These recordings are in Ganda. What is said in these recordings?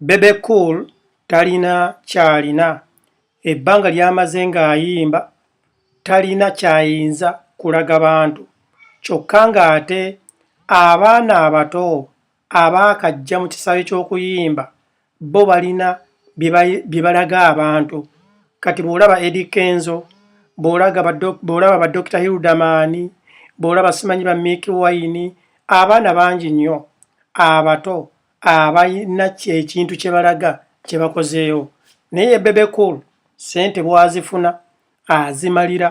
Bebe Cool talina ky'alina. Ebbanga ly'amaze ng'ayimba talina ky'ayinza kulaga bantu kyokka ng'ate abaana abato abaakajja mu kisaawe ky'okuyimba bo balina bye balaga abantu. Kati bw'olaba Eddy Kenzo, bw'olaba ba Dokita Hilderman, bw'olaba simanyi ba Mick Wine, abaana bangi nnyo abato abalina ekintu kye balaga kye bakozeewo naye ye Bebe Cool ssente bw'azifuna azimalira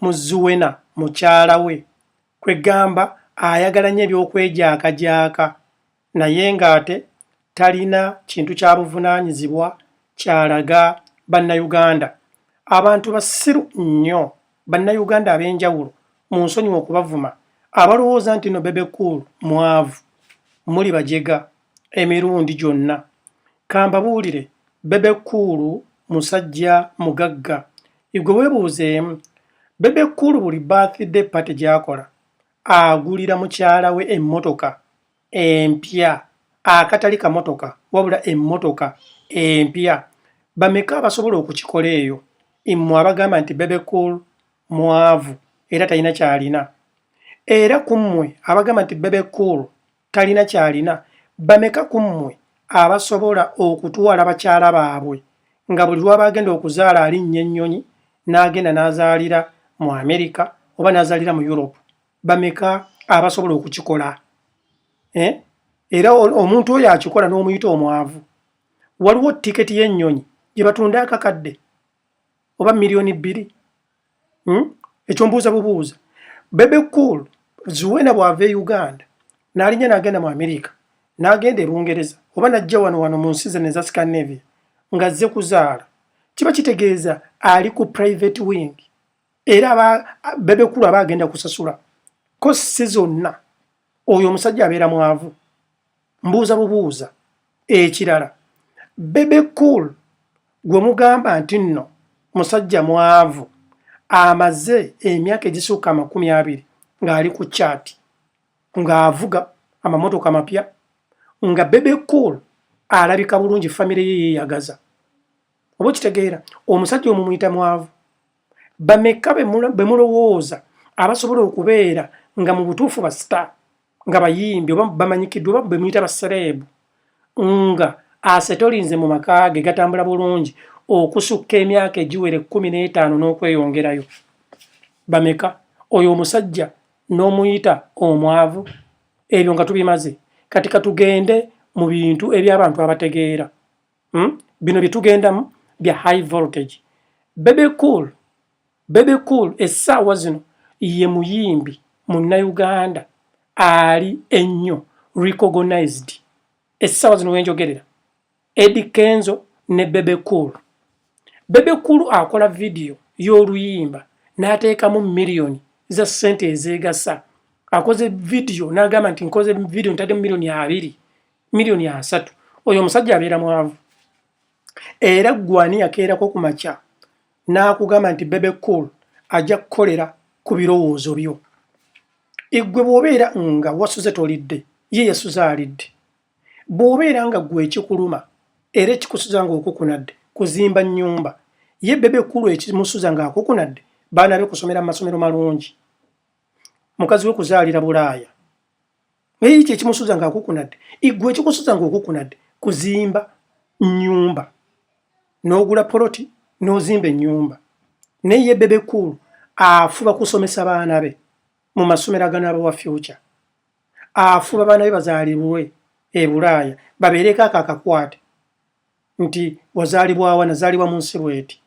mu Zuena mukyala we kwegamba ayagala nnyo eby'okwejaakajaaka naye ng'ate talina kintu kya buvunaanyizibwa ky'alaga Bannayuganda. Abantu basiru nnyo bannayuganda ab'enjawulo mu nsonyiwa okubavuma abalowooza nti no bebe cool mwavu muli bajega emirundi gyonna kambabuulire bebe cool musajja mugagga igwe webuuzeemu bebe cool buli birthday party gyakola agulira mukyala we emmotoka empya akatali kamotoka wabula emmotoka empya bameka abasobola okukikola eyo mmwe abagamba nti bebecool mwavu era talina kyalina era ku mmwe abagamba nti bebecool talina kyalina bameka ku mmwe abasobola okutwala bakyala baabwe nga buli lwaba agenda okuzaala alinnya ennyonyi n'agenda n'azaalira mu amerika oba n'azaalira mu europe bameka abasobola okukikola eh? era omuntu oyo akikola n'omuyita omwavu waliwo tiketi y'ennyonyi gye batunda akakadde oba miliyoni bbiri hmm? ekyo mbuuza bubuuza bebe cool zuwena bw'ava e uganda n'alinya n'agenda mu amerika n'agenda e bungereza oba n'ajja wano wano mu nsi zene eza scandinavia ng'azze kuzaala kiba kitegeeza ali ku private wing era bebekulu aba agenda kusasula ko si zonna oyo omusajja abeera mwavu mbuuza bubuuza ekirala bebe cool gwe mugamba nti nno musajja mwavu amaze emyaka egisuuka amakumi abiri ng'ali ku kyati ng'avuga amamotoka mapya nga bebe cool alabika bulungi famire ye yeeyagaza oba okitegeera omusajja omumuyita mwavu bamekka be mulowooza abasobola okubeera nga mu butuufu ba star nga bayimbi oba bamanyikiddwa oba bemuyita basereebu nga asetolinze mu maka ge gatambula bulungi okusukka emyaka egiwera ekkumi n'etaano n'okweyongerayo bameka oyo omusajja n'omuyita omwavu ebyo nga tubimaze kati katugende mu bintu eby'abantu abategeera Hmm? Bino bye tugendamu bya high voltage. Bebe Cool, Bebe Cool essaawa zino ye muyimbi munnayuganda ali ennyo recognized essaawa zino wenjogerera Eddie Kenzo ne Bebe Cool. Bebe Cool akola vidiyo y'oluyimba n'ateekamu miliyoni za ssente ezeegasa. Akoze vidiyo n'agamba nti nkoze vidiyo ntaddemu miliyoni abiri million asatu oyo omusajja abeera mwavu era gwani yakeerako ku makya n'akugamba nti bebe cool ajja kukolera ku birowoozo byo eggwe bw'obeera nga wasuze tolidde ye yasuze alidde bw'obeera nga gwe ekikuluma era ekikusuza ng'okukunadde kuzimba nnyumba ye bebe kulu ekimusuza ng'akukunadde baana be kusomera mu masomero malungi mukazi we kuzaalira bulaaya naye ekyo ekimusuza nga akukunadde igwe ekikusuza nga okukunadde kuzimba nyumba n'ogula poloti n'ozimba ennyumba naye ye bebe cool afuba kusomesa baana be mu masomero aganaaba wa future afuba baana be bazaalibwe e bulaaya babeereko ako akakwate nti wazaalibwawa nazaalibwa mu nsi bweti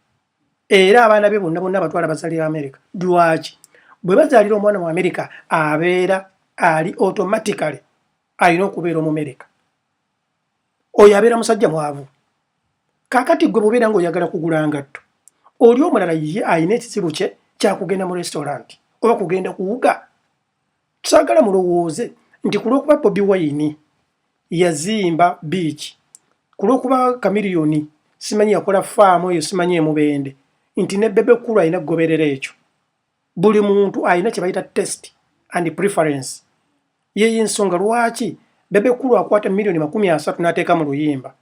era abaana be bonna bonna abatwala bazaalira amerika lwaki bwe bazaalira omwana mu amerika abeera ali automatically alina okubeera omumerika oyo abeera musajja mwavu kakati gwe bubeera nga oyagala kugula ngatto oli omulala ye alina ekizibu kye kyakugenda mu restaurant oba kugenda kuwuga Saagala mulowooze nti ku lw'okuba Bobi Wine yazimba biiki, ku lw'okuba Chameleone simanyi yakola faamu eyo simanyi e Mubende, nti ne Bebe Cool alina kugoberera ekyo. Buli muntu alina kye bayita test and preference. Yeeyo ensonga lwaki Bebe Cool akwata miliyoni makumi asatu n'ateeka mu luyimba,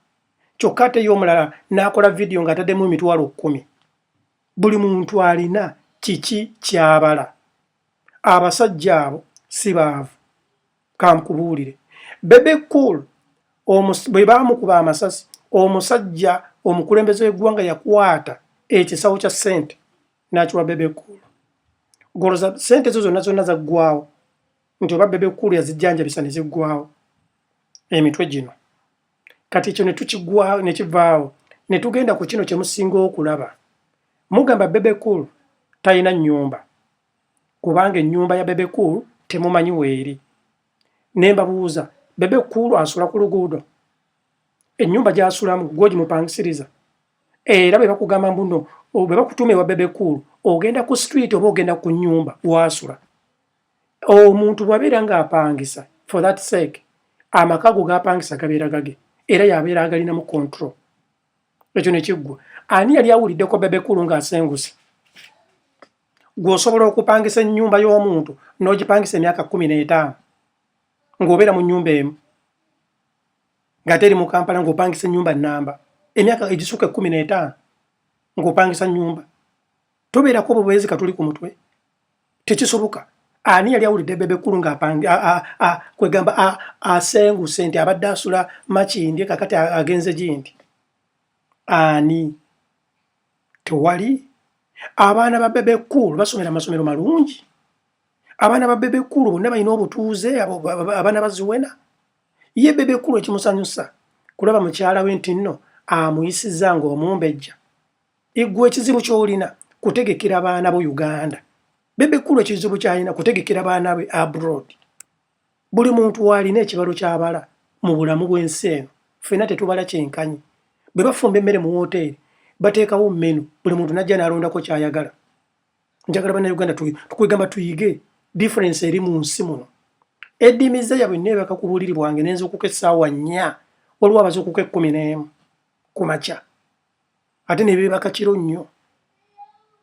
kyokka ate ye omulala n'akola vidiyo ng'ataddemu emitwalo kkumi. Buli muntu alina kiki ky'abala. abasajja abo si baavu kankubuulire bebe cool bwe baamukuba amasasi omusajja omukulembeze w'eggwanga yakwata ekisawo kya ssente n'akiwa bebe cool goloza ssente zo zonna zonna zaggwawo nti oba bebe cool yazijjanjabisa ne ziggwawo emitwe gino kati ekyo netukigwawo nekivaawo netugenda ku kino kyemusinga okulaba mugamba bebe cool talina nyumba kubanga enyumba ya bebe cool temumanyi weeri nembabuuza bebe cool asula ku luguudo enyumba gyasulamu gwogimupangisiriza era bebakugamba mbuno bwebakutuuma ewa bebe cool ogenda ku street oba ogenda ku nyumba wasula omuntu bwabeera nga apangisa for that sake amaka go gapangisa gabeera gage era yabeera agalinamu control ekyo nekiggwa ani yali awuliddeko bebekulu nga asenguse gweosobola okupangisa enyumba y'omuntu n'ogipangisa emyaka kumi n'etaano ng'obeera mu nyumba emu ngate eri mu kampala ng'opangisa enyumba namba emyaka egisuka ekumi n'etaano ng'opangisa nyumba tobeerako obubwezi katuli ku mutwe tekisoboka ani yali awulidde bebe kulu nga kwegamba asenguse nti abadde asula makindye kakati agenze gindi ani tewali abaana ba bebe kulu basomera masomero malungi abaana ba bebe kulu bonna balina obutuuze abaana baziwena ye bebe kulu ekimusanyusa kulaba mukyala we nti nno amuyisiza ngaomumbejja Igwe ekizibu kyolina kutegekera baana bo Uganda. Bebe kulu ekizibu kyalina kutegekera baana be abroad. Buli muntu walina ekibalo kyabala mu bulamu bwensi eno. Fena tetubala kyenkanyi. Bwe bafumba emmere mu wooteeri bateekawo menu buli muntu najja nalondako kyayagala. Njagala bana Uganda tukwegamba tuyige difference eri mu nsi muno. Edimiza yabwe nebaka ku buliri bwange nenza okukesaawa nnya waliwo abaza okuka ekkumi n'emu ku makya. ate nebeebaka kiro nnyo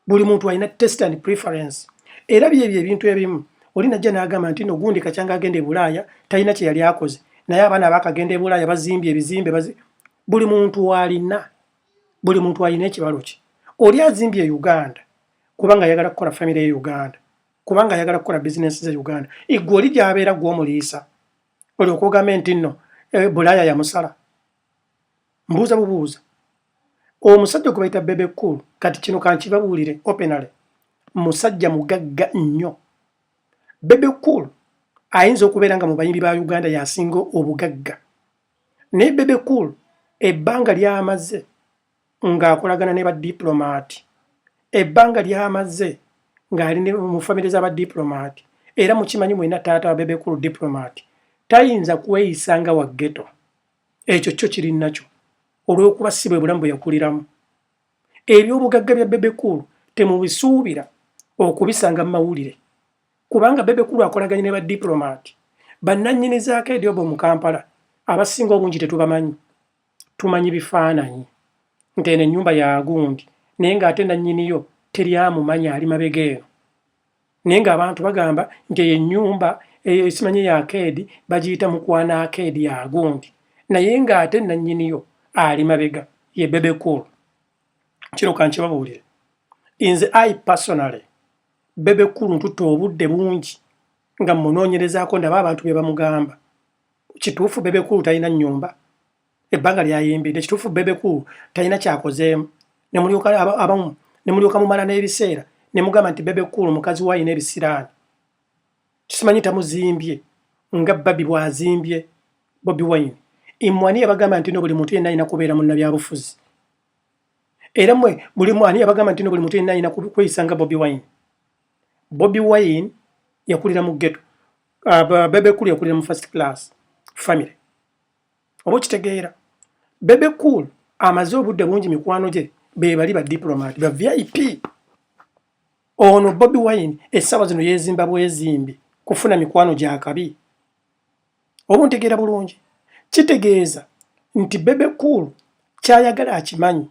buli muntu alina test and preference era byebyo ebintu ebimu oli najja n'agamba nti no gundi kakyanga agenda e bulaaya talina kye yali akoze naye abaana abakagenda e bulaaya bazimbye ebizimbe bazi... buli muntu alina buli muntu alina ekibalo kye oli azimbye e uganda kubanga ayagala kukola famire ye uganda kubanga ayagala kukola bizinensi ze uganda igwe oli gyabeera gwomuliisa olyoka ogambe nti nno eh, bulaaya yamusala mbuuza bubuuza omusajja gwebayita bebe cool kati kino kankibabuulire openale musajja mugagga nnyo bebe cool ayinza okubeera nga mu bayimbi ba uganda yasinga obugagga naye bebe cool ebbanga lyamaze ng'akolagana ne badiplomaati ebbanga lyamaze ng'ali mu famire za badiplomaati era mukimanyi mwena taata wa bebe cool diplomaati tayinza kweyisa nga waggeto ekyo kyo kiri nakyo olw'okuba si bwe bulamu bwe yakuliramu. Eby'obugagga bya Bebe Cool temubisuubira okubisanga mu mawulire kubanga Bebe Cool akolaganye ne badipulomati bannannyini za Akeedi Obo mu Kampala abasinga obungi tetubamanyi. Tumanyi bifaananyi nti eno ennyumba ya gundi naye ng'ate nannyini yo teri amumanya ali mabega eno. naye ng'abantu bagamba nti eyo ennyumba eyo esimanye ya akeedi bagiyita mukwana akeedi ya gundi naye ng'ate nannyiniyo ali mabega ye bebe cool kino kankibabuulire inze i personally bebe cool ntutte obudde bungi nga munoonyerezaako ndaba abantu be bamugamba kituufu bebe cool talina nnyumba ebbanga lyayimbidde kituufu bebe cool talina kyakozeemu nemulyoka abamu nemulyoka mumala n'ebiseera nemugamba nti bebe cool mukazi wayina ebisiraani kisimanyi tamuzimbye nga babi bwazimbye bobi wine imwani yabagamba nti no buli muntu yenna alina kubeera munnabyabufuzi era mwe buli mwani yabagamba nti no buli muntu yenna alina kweyisa nga bobi wine bobi wine yakulira mu geto uh, bebe cool yakulira mu first class family oba okitegeera bebe cool amaze obudde bungi mikwano gye bebali ba diplomat ba vip ono bobi wine essaawa zino yezimba bwezimbi kufuna mikwano gyakabi oba ntegeera bulungi kitegeeza nti bebe cool kyayagala akimanyi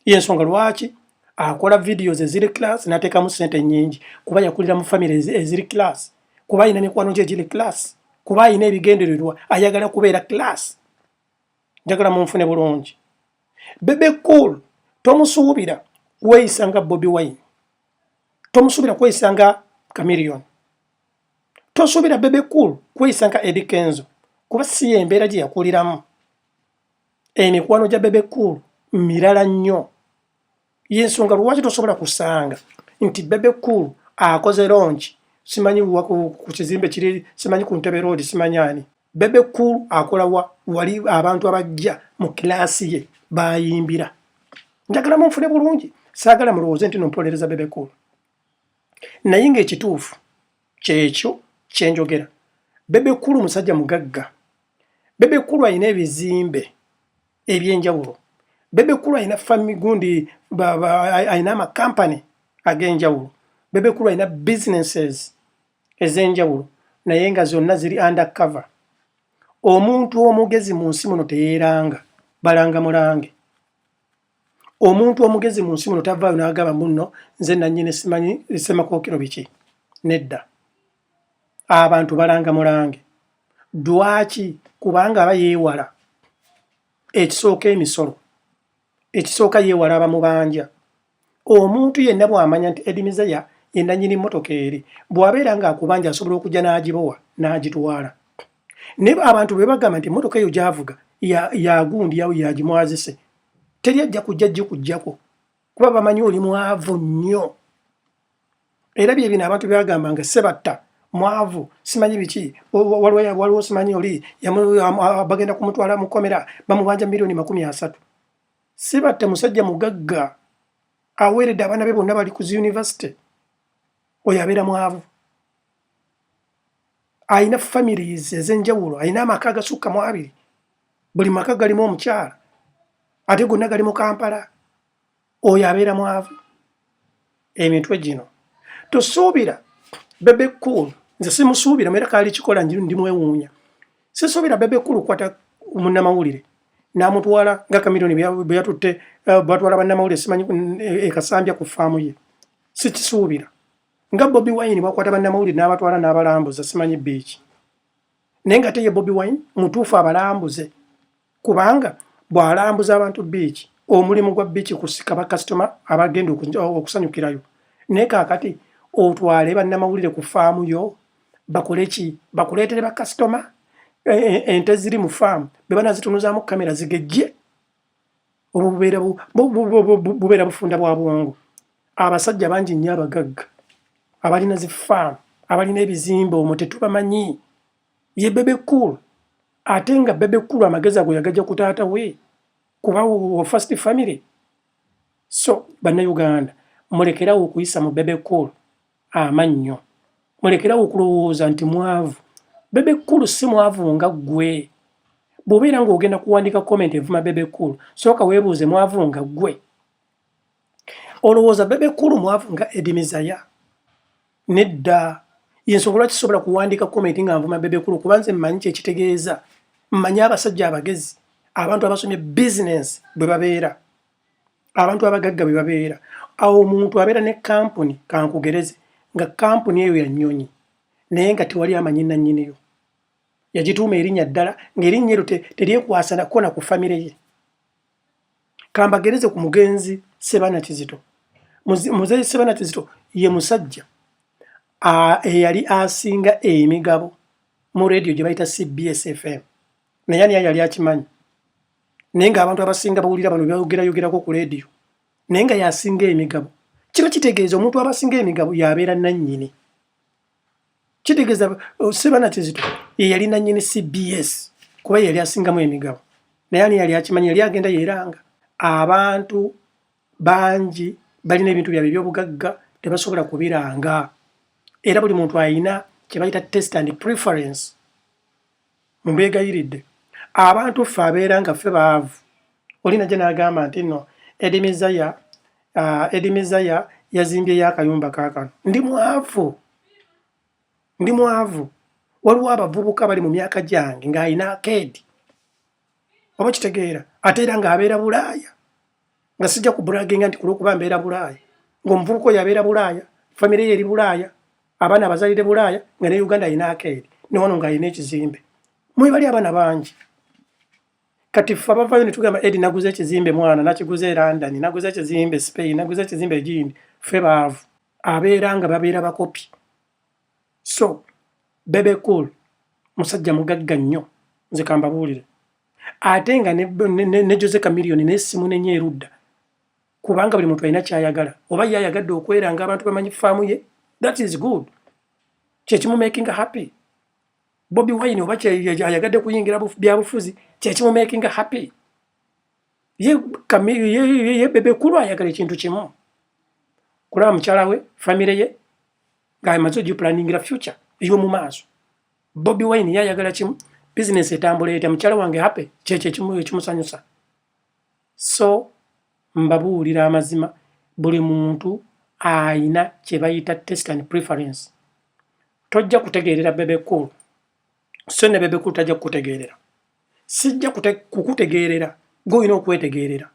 yensonga lwaki akola videos eziri class natekamu sente nyingi kuba yakulira mu family eziri class kuba alina mikwano gye giri class kuba alina ebigendererwa ayagala kubeera class njagala munfune bulungi bebe cool tomusuubira kweyisa nga bobi wine tomusuubira kweyisa nga camilion tosuubira bebe cool kweyisa nga edikenzo kuba si embeera gye yakuliramu emikwano gya bebe cool mirala nnyo yensonga lwaki tosobola kusanga nti bebe cool akoze longi simanyi ku kizimbe kiri simanyi ku ntebe roodi simanyi ani bebe cool akola wa wali abantu abajja mu kilaasi ye bayimbira njagala munfune bulungi saagala mulowooze nti nompolereza bebe cool naye ngaekituufu kyekyo kyenjogera bebe cool musajja mugagga Bebe Cool alina ebizimbe eby'enjawulo. Bebe Cool alina family gundi alina ama company ag'enjawulo. Bebe Cool alina businesses ez'enjawulo naye nga zonna ziri under cover. Omuntu omugezi mu nsi muno teyeeranga balanga mulange. Omuntu omugezi mu nsi muno tavaayo n'agamba munno nze nannyini simanyi Ssemakookiro biki. Nedda. abantu balanga mulange dwaki kubanga aba yewala ekisooka emisolo ekisooka yewala abamubanja omuntu yenna bwamanya nti edimizeya yenanyini motoka eri bwabeera nga akubanja asobola okujja n'agibowa n'agitwala ne abantu bwe bagamba nti motoka eyo gyavuga yagundi ya yawo yagimwazise teri ajja kujja gikujjako kuba bamanyi oli mwavu nnyo era bye bino abantu byagamba nga sebatta mwavu simanyi biki waliwo simanyi oli bagenda kumutwala mu kkomera bamubanja miliyoni makumi asatu sibatta musajja mugagga aweeredde abaana be bonna bali ku zi yunivasite oyo abeera mwavu alina families ezenjawulo alina amaka agasukka mu abiri buli maka galimu omukyala ate gonna gali mu kampala oyo abeera mwavu emitwe gino tosuubira bebe cool nze simusuubira mera kaali kikola njiru ndi mwewuunya sisuubira bebe cool kwata munnamawulire namutwala nga kamironi bweyatutte eh, batwala bannamawulire simanyi ekasambya eh, ku faamu ye sikisuubira nga bobi wine bwakwata bannamawulire n'abatwala n'abalambuza simanyi biiki naye nga teye bobi wine mutuufu abalambuze kubanga bw'alambuza abantu biiki omulimu gwa biiki kusika bakasitoma abagenda okusanyukirayo naye kaakati otwale bannamawulire ku faamu yo bakole ki bakuleetere bakasitoma e, e, ente ziri mu faamu be banazitunuzaamu kamera zigejje obwo bubeera bubeera bufunda bwa bwongo abasajja bangi nnyo abagagga abalina zi faamu abalina ebizimba omwo tetubamanyi ye bebe cool ate nga bebe cool amagezi ago yagaja ku taata we kuba wo first family so bannauganda mulekerawo okuyisa mu bebe cool amannyo. Mulekerawo okulowooza nti mwavu. Bebe Cool si mwavu nga ggwe. Bw'obeera ng'ogenda kuwandiika comment evuma Bebe Cool, sooka weebuuze mwavu nga ggwe. Olowooza Bebe Cool mwavu nga Eddie Mizaya? Nedda. Y'ensonga lwaki sisobola kuwandiika comment nga nvuma Bebe Cool kuba nze mmanyi kye kitegeeza. Mmanyi abasajja abagezi, abantu abasomye bizinensi bwe babeera. abantu abagagga bwe babeera awo omuntu abeera ne kampuni kankugereze nga kampuni eyo ya nnyonyi naye nga tewali amanyi nannyiniyo yagituuma erinnya ddala ng'erinnya eryo teryekwasanakuko na ku famire ye kambagereze ku mugenzi sebana kizito muzeyi sebana kizito ye musajja eyali asinga emigabo mu rediyo gye bayita cbs fm naye ani yali akimanyi naye nga abantu abasinga bawulira bano byogera yogerako ku leediyo naye nga yasinga emigabo kiba kitegeeza omuntu abasinga emigabo yabeera nannyini kitegeeza oh, sebana kizito yeyali nannyini cbs kuba yeyali asingamu emigabo naye ani yali akimanyi yali agenda yeranga abantu bangi balina ebintu byabwe ebyobugagga tebasobola kubiranga era buli muntu ayina kyebayita test and preference Mbeegayiridde, abantu ffe abeera nga ffe baavu, oli najja n'agamba nti nno Eddy Mizaya, Eddy Mizaya yazimbyeyo akayumba kaakano. Ndi mwavu, ndi mwavu. Waliwo abavubuka bali mu myaka gyange ng'alina akeedi, oba okitegeera, ate era ng'abeera Bulaaya. nga sijja ku braginga nti kulwokuba mbeera bulaaya ngaomuvubuka oyo abeera bulaaya famire ye eri bulaaya abaana abazalire bulaaya nga ne uganda alina akeeri newano nga alina ekizimbe mwebali abaana bangi kati fe abavayo netugamba edi naguza ekizimbe mwana nakiguza e london naguza ekizimbe spain naguza ekizimbe egindi fe baavu abeera nga babeera bakopi so bebe cool musajja mugagga nnyo nze kambabuulire ate nga ne, ne, ne, ne jose camilion naye simunenya erudda kubanga buli muntu alina kyayagala oba ye ayagadde okwera nga abantu bamanyi faamu ye that is good kyekimumakinga happy bobi wine oba ayagadde kuyingira byabufuzi kyekimumakinga happy ye, ye, ye, ye bebe kulu ayagala ekintu kimu kulaba mukyala we famire ye ngaamaze ogiplaningira future eyo mu maaso Bobby Wine ye ayagala kimu business etambula etya mukyala wange happy kyekyo ekimu ekimusanyusa so mbabuulira amazima buli muntu ayina kye bayita test and preference tojja kutegeerera bebe cool so ne bebe cool tajja kukutegeerera sijja kukutegeerera gwoyina okwetegeerera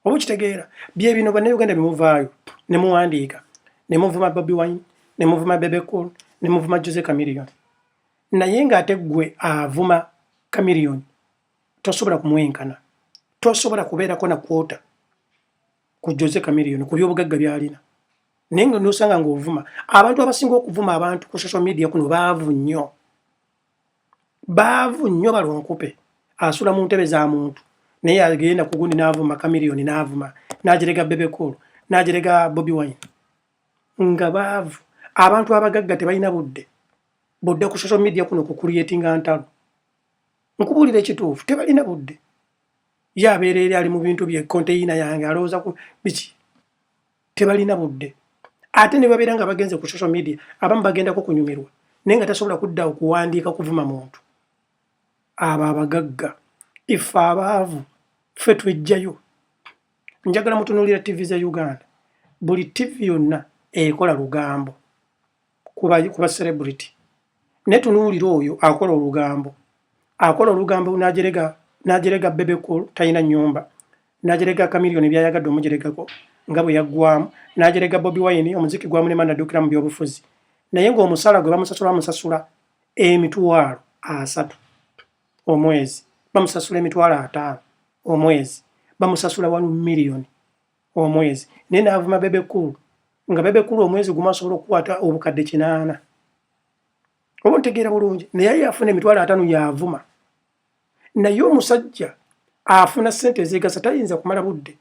oba okitegeera bye bino bannayuganda bye muvaayo ne muwandiika ne muvuma bobi wine ne muvuma bebecool ne muvuma jose camillion naye ng'ate ggwe avuma camillion tosobola kumwenkana tosobola kubeerako na kwota ku jose camillion ku byobugagga byalina naye nga nosanga ng'ovuma abantu abasinga okuvuma abantu ku social media kuno baavu nnyo baavu nnyo balonkupe asula mu ntebe za muntu naye agenda ku gundi n'avuma kamiliyoni n'avuma n'ajerega bebekulu n'ajerega bobi wine nga baavu abantu abagagga tebalina budde budde ku social media kuno ku creatinga ntalo nkubuulira ekituufu tebalina budde ye abeera eri ali mu bintu bye konteyina yange alowooza ku biki tebalina budde ate ne babeera nga bagenze ku social media abamu bagendako kunyumirwa naye nga tasobola kudda okuwandiika kuvuma muntu abo abagagga ife abaavu ffe twejjayo njagala mutunuulira ttivi za uganda buli ttivi yonna ekola lugambo kuba kuba celebrity ne tunuulira oyo akola olugambo akola olugambo najerega najerega bebe cool tayina nyumba najerega kamilioni byayagadde omujeregako nga bwe yaggwamu najerega bobi wine omuziki gwamulema nadukira mu byobufuzi naye ng'omusala gwe bamusasula bamusasula emitwalo asatu omwezi bamusasula emitwalo ataano omwezi bamusasula walu miliyoni omwezi naye n'avuma bebe kulu nga bebe kulu omwezi gumu asobola okukwata obukadde kinaana oba ntegeera bulungi naye aye afuna emitwalo atano yavuma naye omusajja afuna sente ezegasa tayinza kumala budde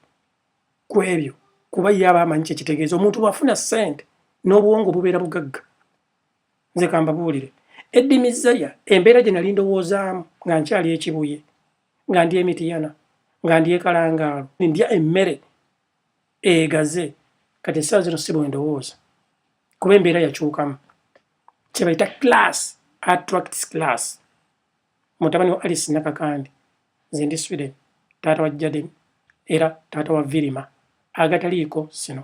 ku ebyo kuba ye aba amanyi kyekitegeeza omuntu bwafuna sente n'obwongo bubeera bugagga nze kambabuulire eddi mizaya embeera gye nali ndowoozaamu nga nkyali ekibuye nga ndya emitiyana nga ndya ekalangaalo ndya emmere egaze kati essaawa zino si bwendowooza kuba embeera yakyukamu kyebayita class attracts class mutabani wa alice nakakandi nze ndi sweden taata wa jaden era taata wa virima agataliiko sino